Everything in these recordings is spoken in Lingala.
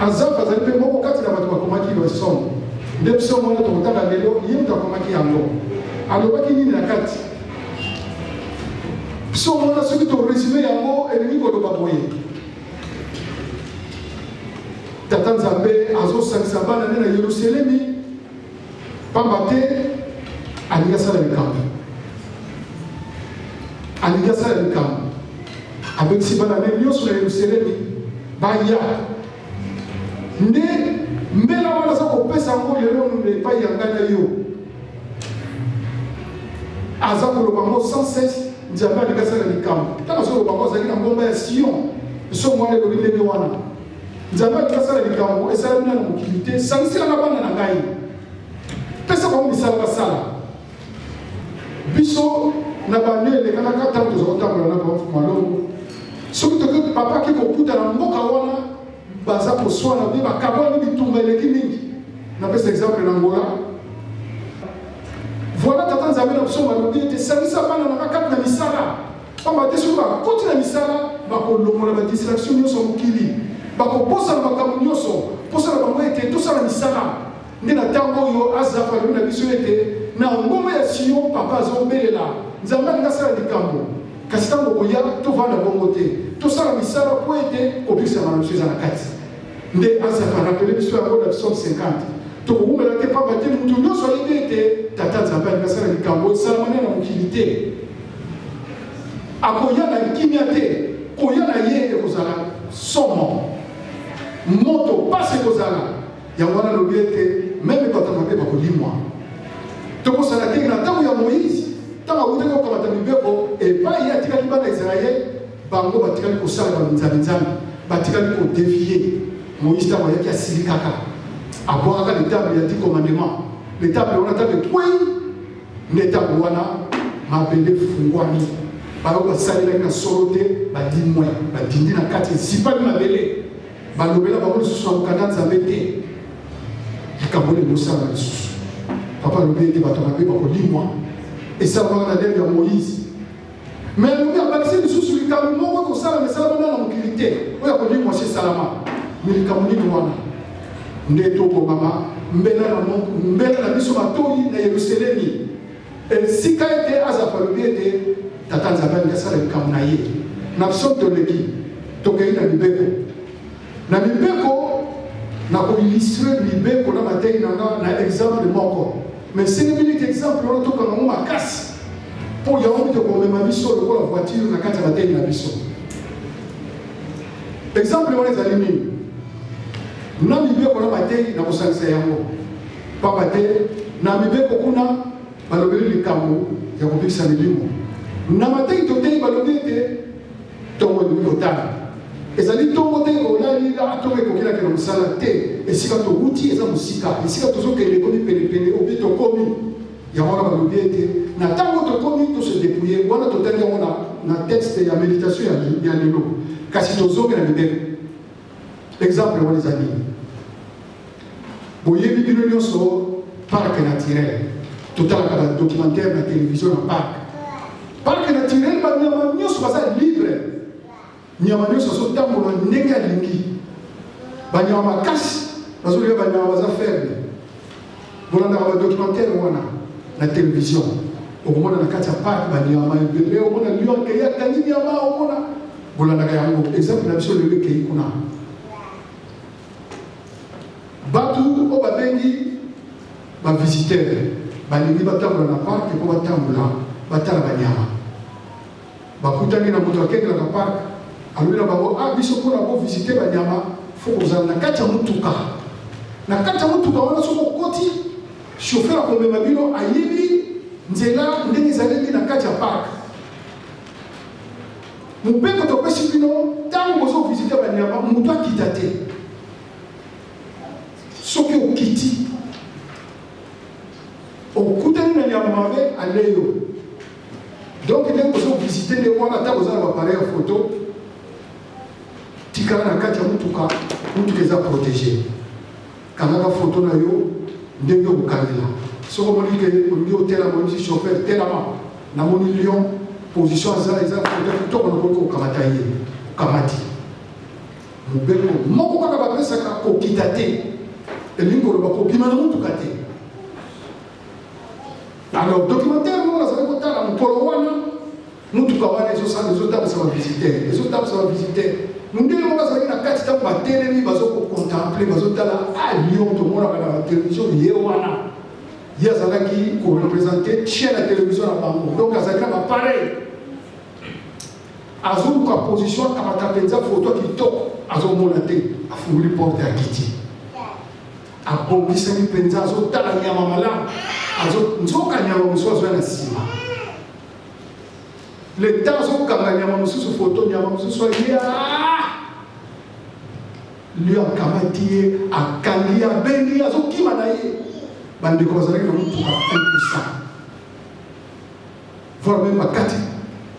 Azafe azali mpe moko kati na bato bakomaki le Somme nde psaume wana tokotanga lelo, ye moto akomaki yango. Alobaki nini na kati? Psaume wana soki to resume yango elingi koloba boye, Tata Nzambe azosangisa bana nde na Yerusalemi Pamba te alingi asala likambo, alingi asala likambo, abengisi bana ne nyonso na Yerusalemi baya nde mbela wana aza kopesa yango lelo nde epai ya ngai na yo aza koloba yango sans cesse nzambe alingi asala likambo ntango azoloba yango azalaki na ngomba ya sion nso mwana elobi ndenge wana nzambe alingi asala likambo esalami na mokili te sangisela na bana na ngai pesa bango misala basala biso na bande elekanaka ntango toza kotambola na bango malongo soki toki papa ake kokuta na mboka wana baza koswana mpe bakabwani bitumba eleki mingi napesa exemple na ngola voilà tata nzambe na biso balobi ete salisa bana na bakati na misala Pamba te soki bakoti na misala, bakolongola ba distraction nyonso ya mokili, bakobosana makambo nyonso, mposa na bango ete tosala misala. Nde na ntango oyo Azafa alobi na biso ete na ngomba ya Sion Papa azobelela, Nzambe alingi asala likambo, kasi ntango okoya tovanda bongo te, tosala misala mpo ete kobikisama na biso eza na kati. Nde Asafa arapele biso yango na psaume 50. Tokowumela te mpamba te moto nyonso ayebi ete Tata Nzambe alingi asala likambo esalamani na mokili te. Akoya na kimia te, koya na ye ekozala somo, moto mpasi ekozala. Yango wana alobi ete meme bato mabe bakolimwa. Tokosala te na ntango ya Moïse, ntango awutaki kokamata mibeko epai atikaki bana Israele Bango batikali kosala ba minzambi nzambi, batikali ko devier. Moïse ntango ayaki asilikaka, abwakaka le table ya dix commandement, le table wana table ekwei, nde ntango wana mabele efungwami, bayo basalelaki na solo te, balimwe, badindi na kati, ezipami mabele, balobela bango lisusu na mokanda nzambe te. Likambo oyo ekosala lisusu, papa alobi ete bato mabe bakolimwa, esalamaka na lelo ya Moïse. Me Lumbi abakisi lisusu likambo moko kosala misala wana na mokili te oyo akoki mwasi esalama me likambo nini wana nde tokobama mbela na mbela na biso matoi na yerusalemi esika ete azala alobi ete tata nzambe alingi asala likambo na ye na biso toleki tokei na mibeko Na mibeko, na ko illustre mibeko na mateyi na nga na exemple moko. Mais c'est une minute exemple wana tokanga yango makasi mpo yango mpe komema biso lokola voiture na kati ya mateyi na biso. Exemple wana ezali nini? Na mibeko na mateyi na kosangisa yango mpamba te na mibeko kuna balobeli likambo ya kobikisa milimo na mateyi toteyi balobi ete Ntongo ekoki kotala ezali ntongo te olali a ntongo ekokelaka na mosala te esika towuti eza mosika esika tozokende ekomi penepene obi tokomi yango wana balobi ete na ntango tokomi tose depouye wana totali yango na texte ya méditation ya lelo kasi tozongela mibeko Exemple wana eza nini? Boyebi bino nyonso parc naturel, totalaka ba documentaire na television na parc. Parc naturel banyama nyonso baza libre, nyama nyonso azotambola ndenge alingi, banyama makasi bazolia banyama baza faible bolandaka ba documentaire wana na television okomona na kati ya park baniama ebele omona lio akei akangi niama omona bolandaka yango exemple na biso lelo ekei kuna bato oyo babengi bavisitere balingi batambola na parke mpo batambola batala baniama Bakutani na moto akengelaka parc, alobi na bango ah biso mpona ko visite banyama fo kozala na kati ya motuka. Na kati ya motuka wana soki okoti, chauffeur akomema bino ayebi nzela ndenge ezaleli na kati ya parc. Mobeko topesi bino ntango bozo visite banyama moto akita te. Soki okiti okutani na nyama mabe ale yo donc ndenge ozo visite nde wana ntango oza na bapareil ya foto tikala na kati ya motuka motuka eza protege kangaka foto na yo ndenge okokangela soki omoni ke olingi otelama omisi chauffeur telama namoni lion position aza eza foto kitoko nakoki kokamata ye okamati Mobeko moko kaka bapesaka kokita te, elingi koloba kobima na motuka te. Alors documentaire moko nazali kotala mokolo wana, motuka wana ezosala ezotambwisa bavisitere, ezotambwisa bavisitere mondele moko azalaki na kati ntango batelemi bazokocontemple bazotala a lyon tomonaka na batelevizio ye wana ye azalaki korepresente chien ya televizio na bango donc azalaki na bapareil azoluka position akamata mpenza foto kitoko azomona te afunguli porte ya kiti abongisami mpenza azotala nyama malamu nzoka nyama mosusu azoya na nsima leta azokanga nyama mosusu foto nyama mosusu alia lio akamati ye akangi abengi azokima na ye bandeko bazalaki na motuka impuissant voir meme bakati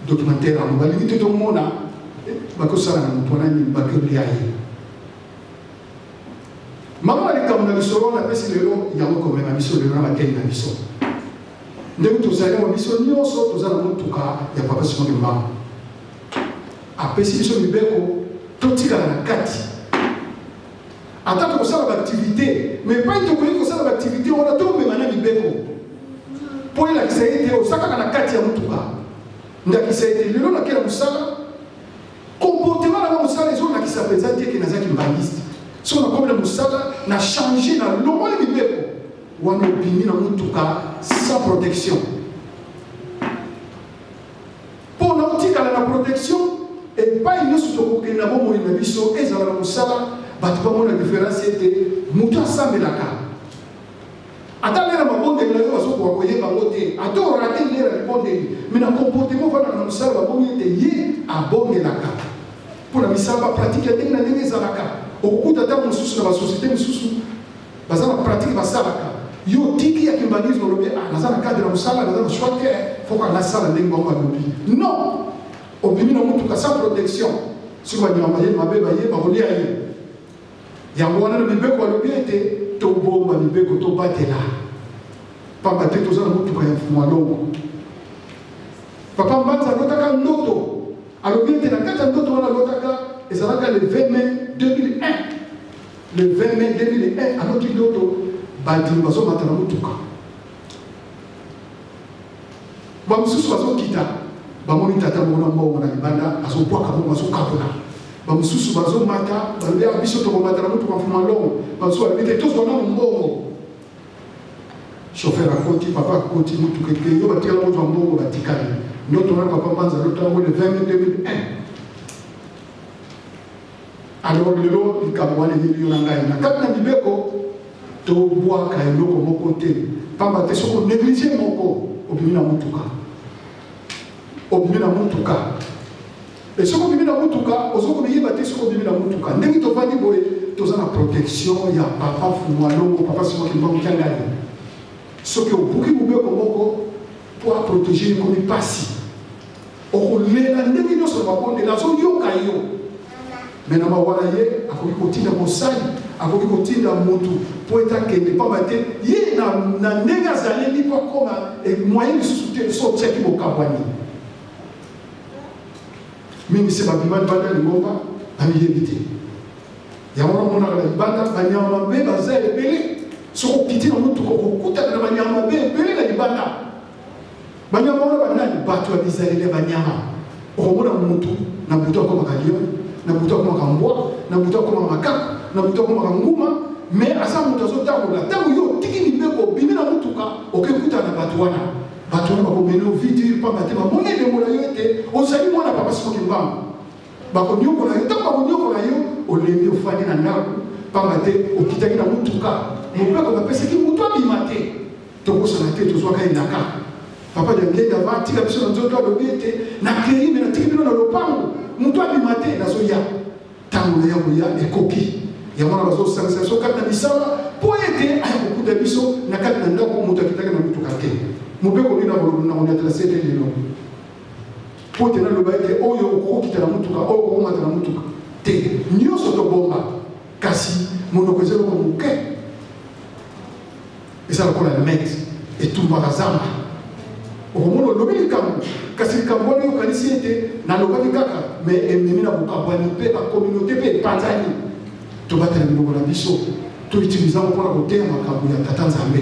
documentaire yango balingi te tomona eh, bakosala na moto wana nini bakelia ye mama na likambo na lisolo wana apesi lelo yango komema biso lelo na batei na biso ndenge tozali yango biso nyonso toza na motuka ya papa simoni mbango apesi biso mibeko totikala na kati ata tokosala baaktivite ma epai tokoki kosala baaktivite wana tomema na mibeko mpo elakisa ete oza kaka na kati ya motuka ndakisa ete lelo nakela mosala komportema na nga mosala ezolakisa mpenza te eke nazaki mbaniste soki nakomi na mosala na change na longoli mibeko wana obimi na motuka sans protection Mpo na kotikala na protection, epai nyonso tokokende na bomoi na biso, ezala na mosala, bato bamona diferensi ete moto asambelaka ata lera mabondeli na yo bazokoka koyeba yango te ata orate lera libondeli me na comportement ofandaka na mosala babomi ete ye abondelaka mpo na misala bapratike ya ndenge na ndenge ezalaka okokuta ntango mosusu na basosiete mosusu baza na pratique basalaka yo tiki ya kimbanguisme olobi ah, naza na cadre ya mosala naza na choix te foko anasala ndenge bango alobi non obimi na motuka sans protection soki banyama baye mabe baye bakolia ye yango wana na mibeko alobi ete tobomba mibeko tobatela pamba te toza na motuka ya mfumu alongo papa mbanza alotaka ndoto alobi ete na kati ya ndoto wana alotaka ezalaka le 20 mai 2001 Le 20 mai 2001, aloki ndoto bandimi bazomata na motuka, bamosusu bazokita, bamoni tata moko na mbongo na libanda azobwaka bongo, azokabola bamosusu bazomata, balobi ya biso tokomata na motuka mfuma longo, bamosusu balobi te tozwa nano mbongo. Shofer akoti, papa akoti motuka ekei, yo batikala kozwa mbongo, batikali ndoto na papa Mbanza lotango le 20 mai 2001 Alors lelo likambo wana eyebi yo na ngai na kati na mibeko tobwaka eloko moko te mpamba te soki onéglige moko obimi na motuka obimi na motuka e soki obimi na motuka ozo komiyeba te soki obimi na motuka ndenge tofandi boye toza na protection ya papa fumalongo papa simakimbango kiangani soki obuki mobeko moko mpo aprotege ekomi mpasi Okolela ndenge nyonso na mabondeli, azoyoka yo. Me na mawa na ye, akoki kotinda mosali, akoki kotinda motu mpo ete akende, mpamba te ye na, na ndenge azaleli mpo akoma emwaye lisusu te, so otiaki bokabwani mingi se babima libanda lingomba bamiyebi te yango namonaka na libanda banyama mabe baza ebele soki okiti na motuka okokutana na banyama mabe ebele na libanda banyama wana banani bato ya bizaleli ya banyama okomona motu na butu akomaka lion na butu akomaka mbwa na butu akomaka makaka na butu akomaka nguma me aza moto azotambola ntango yo otiki mibeko obimi na motuka okekutana na bato wana bato wana bakomeli ovidi mpamba te bamoni elembo na yo ete ozali mwana papa soki mbango bakonyokola yo ntango bakonyokola yo olembi ofandi na ndako mpamba te okitaki na motuka mobeko bapesaki moto abima te Tobosana te tozwaka elaka. Papa de Ngenga va tika biso na nzoto alobi ete nakei me natiki bino na lopango moto abima te nazoya ntango na ya koya ekoki yango wana bazosangisa biso kati na misala mpo ete aya kokuta biso na kati na ndako moto akitaki na motuka te mobeko nini nakonyatela se ete lelo mpo te naloba ete oyo okokokita na motuka oyo okokomata na motuka te nyonso tobomba kasi monoko eza eloko moke eza lokola net etumbaka zamba okomona olobi likambo kasi likambo wana okanisi ete nalobaki kaka me ememi na bokabwani mpe bakominauté mpe epanzani tobatela minoko na biso toutilize yango mpona koteya makambo ya tata nzambe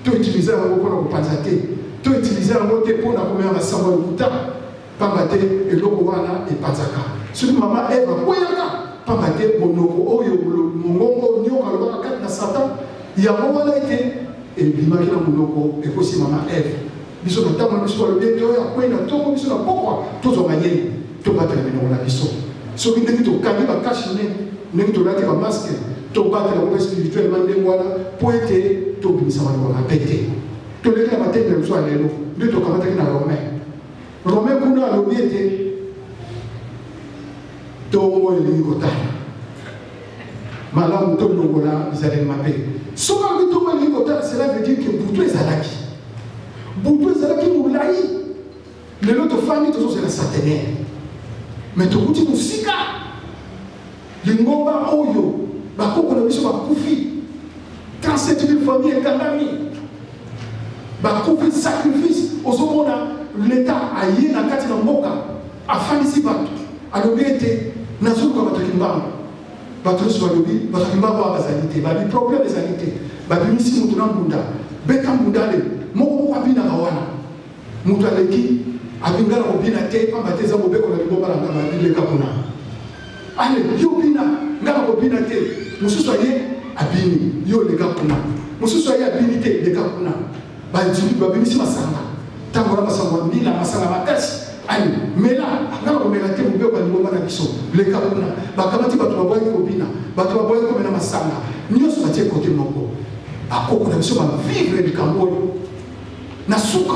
toutilize yango mpona kopanza te toutilize yango te mpona komema masango ya lokuta pamba te eloko wana epanzaka. Soki mama Eva akweyaka, pamba te monoko oyo mongongo oyo nyoka alobaka kati na Satan, yango wana ete ebimaki na monoko ekosi mama Eva. Biso na ntango na biso balobi ete oyo akwei na ntongo, biso na pokwa tozwa mayele, tobatela minoko na biso. Soki ndenge tokangi bakashi ne, ndenge tolati bamaske, tobatela kope spirituellement ndenge wana mpo ete tobimisa maloba mabe te. toleki na matendo ya biso ya lelo nde tokamataki na romain Rome kuna alobi ete ntongo elingi kotala malamu tolongola bizaleli mabe soki alobi ntongo elingi kotala cela veut dire que butu ezalaki butu ezalaki molai lelo tofandi tozozela satenaire me tokuti mosika Lingomba oyo bakoko na biso bakufi, 37000 famille ekangami, bakufi sacrifice. Ozomona leta aye na kati na mboka afandisi bato, alobi ete nazoluka bato ya kimbangu. Bato nyonso balobi bato ya kimbangu awa bazali te, babi problème ezali te, babimisi moto na mbunda, beta mbundale moko moko abinaka wana Moto aleki abingana kobina te mpamba te eza mobeko na libomba na nganga bileka kuna ale yo bina nga na kobina te mosusu aye abini yo leka kuna mosusu aye abini te leka kuna bandimi babimisi masanga ntango wana masanga ya mbila masanga makasi ale mela nga na komela te mobeko ya libomba na biso leka kuna bakamati bato baboyaki kobina bato baboyaki komela masanga nyonso batie kote moko bakoko na biso bavivre likambo oyo Na suka,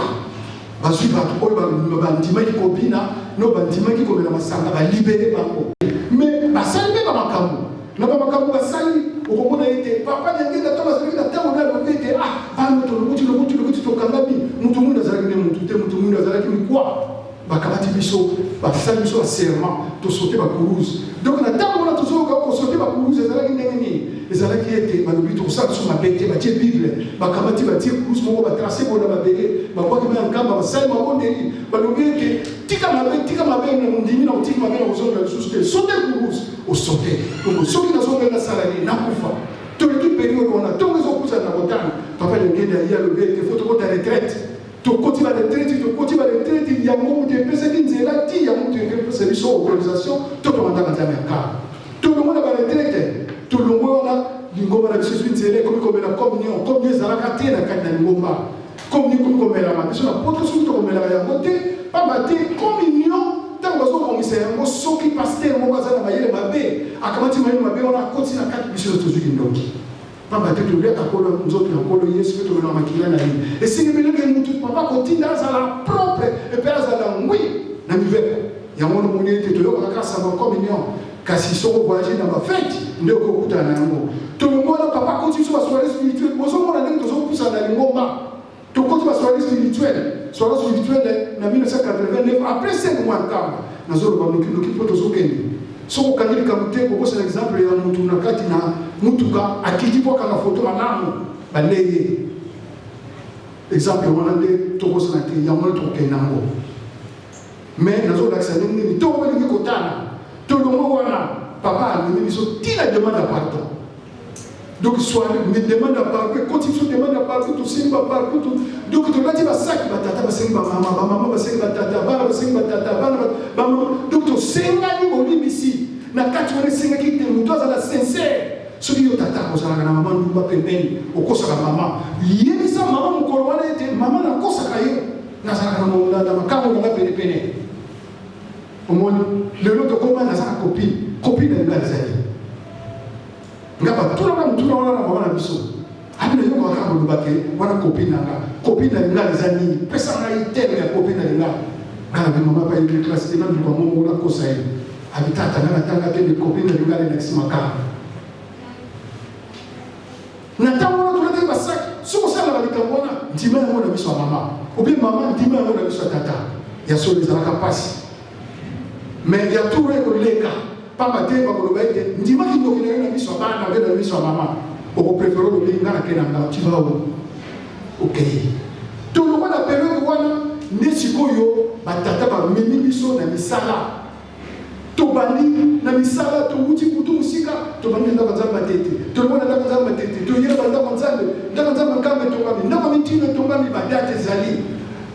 bazwi bato oyo bandimaki kobina na oyo bandimaki komela masanga, balibere bango. Me basali mpe bamakambo na bamakambo basali, okomona ete papa Nyangeta ntango azalaki na ntango nde alobi ete ah, bano tolokuti lokuti lokuti tokangami, moto mwinda azalaki nde moto te, moto mwinda azalaki mikwa. bakamati biso basali biso baserment tosote bakuruze donc na ntango wana tozoyoka kosote bakuruze ezalaki ndenge nini ezalaki ete balobi tokosala biso mabe te batie bible bakamati batie kuruze moko batrace boye na mabele babwaki na nkamba basali mabondeli balobi ete tika mabe tika mabe na mondimi na otiki mabe na kozongela lisusu te sote kuruze osote donc soki nazongela nasala nini nakufa toleki periode wana ntongo ezopusana na kotanga papa lengende aye alobi ete fo tokota retraite Tokoti ba retraite, tokoti ba retraite, yango moto epesaki nzela ti ya moto epesa biso autorisation to tokandaka nzambe ya kala. Tolongwe na ba retraite, tolongwe wana lingomba na biso ezwi nzela ekomi komela communion, communion ezalaka te na kati na lingomba. Communion ekomi komelama biso na poto soki tokomelaka yango te, pamba te communion ntango bazobongisa yango soki pastere moko aza na mayele mabe akamati mayele mabe wana akoti na kati biso tozwi kindoki Pamba te toliaka kolo nzoto ya Nkolo Yesu mpe tolona makila na ye. Esengi bilenge mutu papa kotinda azala propre mpe azala ngwi na mibeko. Yango wana omoni ete toyokaka kaka sango communion kasi soki ovoyage na bafeti nde okokutana na yango. Tolongwa na papa koti biso basoiree spirituel bozomona ndenge tozopusana na lingomba. tokoti basoirée spirituelle soirée spirituelle na 1989 après 5 mois ntango nazoloba nokinoki mpo tozokende soki okangi likambo te kokosana exemple ya motu na kati na motuka akiti mpo akanga foto malamu balei ye exemple wana nde tokosana te yango wana tokokende yango Mais nazolakisa ndenge nini ntongo olingi kotala tolongo wana papa amemi biso ntina demande ya pardon donc soirée me demande ya pardon ekoti biso demande ya pardon tosengi ba pardon donc tolati basaki batata basengi bamama bamama basengi batata bana basengi batata bana bamama donc tosengani bolimbisi na kati wana esengaki te moto azala sincere soki yo tata ozalaka na mama ndumba pembeni okosaka mama yebisa mama mokolo wana ete mama nakosaka yo nazalaka na mo- na- na makango na ngai penepene omoni lelo tokoma naza na kopi kopi na ngai ezali nga batunaka motuna wana na mama na biso abi nayokaka kaka koloba te wana kopi na nga kopi na linga eza nini pesa ngai teme ya kopi na linga nga nabi mama bayekli klase te naluka mongo nakosa ye abi tata nga natanga te nde kopi na linga lelakisi makaka Na ntango wana tolandaki basaki soki osalaka likambo wana ndima yango na miso ya mama obi mama ndima yango na miso ya tata ya solo ezalaka mpasi me ya tour ekoleka mpamba te bakoloba ete ndima kindoki na yo na miso ya bana mpe na miso ya mama okoprefere olobi nga na ke na nga tiva o okei tolongwa na periode wana nde sikoyo batata bamemi biso na misala tobandi na misala towuti kutu mosika tobandi ndako nzambe matete tolobona ndako nzambe matete toyeba ndako nzambe ndako nzambe nkambe etongami ndako mitino etongami badate ezali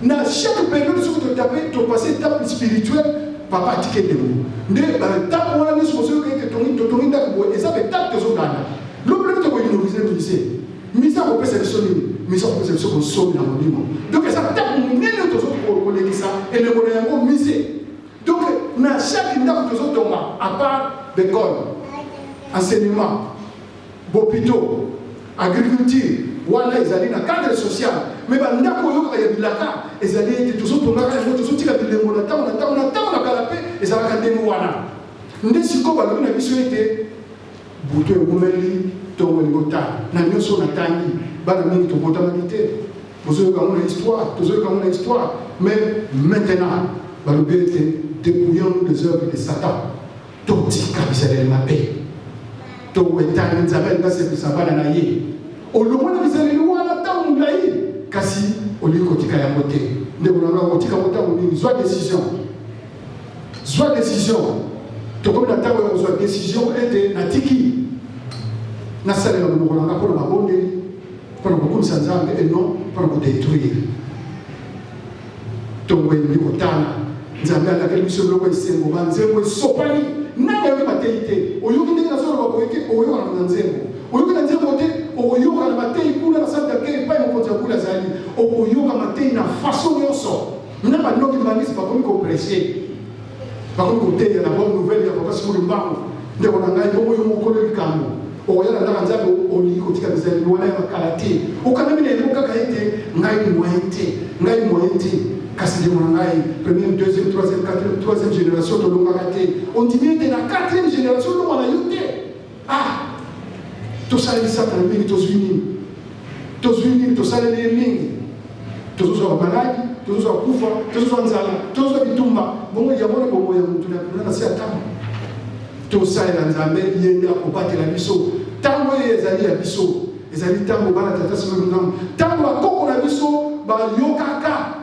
na chaque période soki totape topase etape spirituelle papa atike ndeko nde batape wana nyonso bozoyoka ete totongi ndako boye eza betape tozoganda lokola tokoinorize mise mise akopesa biso nini mise akopesa biso bonsomi na molimo donc eza tape monene tozokolekisa elembo na yango mise Donc, na chaque ndako tozo tonga à part l'école, enseignement, bopito, agriculture, wana ezali na cadre social mais bandako oyokaka ya bilaka ezali ete tozotongaka yango tozotika bilembo na ntango na ntango na ntango na kala mpe ezalaka ndenge wana nde sikoyo balobi na biso ete Butu ewumeli, ntongo elingi otana. Na nyonso oyo natangi, bana mingi tobotamaki te. Bozoyoka yango na histoire, tozoyoka yango na histoire. Mais maintenant, balobi ete dépouillons-nous des œuvres de Satan. Totika bizaleli mabe, towetani Nzambe alingi asepelisa bana na ye. Olongwa na bizaleli wana ntango molai, kasi olingi kotika yango te. Ndeko na ngai, okotika yango ntango nini? Zwa decision. Zwa decision. Tokomi na ntango ya kozwa decision ete natiki nasalela monoko na nga mpo na mabondeli, mpo na kokumisa Nzambe et non mpo na kodetruire. Ntongo elingi kotana. Nzambe alakeli biso biloko esengo, banzembo esopani. Nani ayoki mateyi te? Oyoki ndenge nazoloba boye te, okoyokana na nzembo. Oyoki na nzembo te, okoyoka na mateyi kuna na sante ya kei epai mokonzi ya kule azali. Okoyoka mateyi na faso nyonso. Na ba ndoki mbangisi bakomi ko prêcher. Bakomi koteya na bonne nouvelle ya papa Simon Mbangu. Ndeko na ngai bongo yo mokolo likambo. Okoya na ndaka nzambe olingi kotika bizali wana ya makala te. Okanami na yango kaka ete ngai moyen te. Ngai moyen te. Kasi ndeko na ngai première, deuxième, troisième, quatrième, troisième génération tolongaka te. Ondimi ete na quatrième génération olonga na yo te. Ah! Tosaleli Satana mingi, tozwi nini? Tozwi nini? Tosaleli ye mingi, tozozwa bamaladi, tozozwa kufa, tozozwa nzala, tozozwa bitumba. Bongo yango na bomoi ya motu na kuna na se ya ntango, tosalela Nzambe, ye nde akobatela biso. Ntango eye ezali ya biso, ezali ntango bana tata sima ntango bakoko na biso bayokaka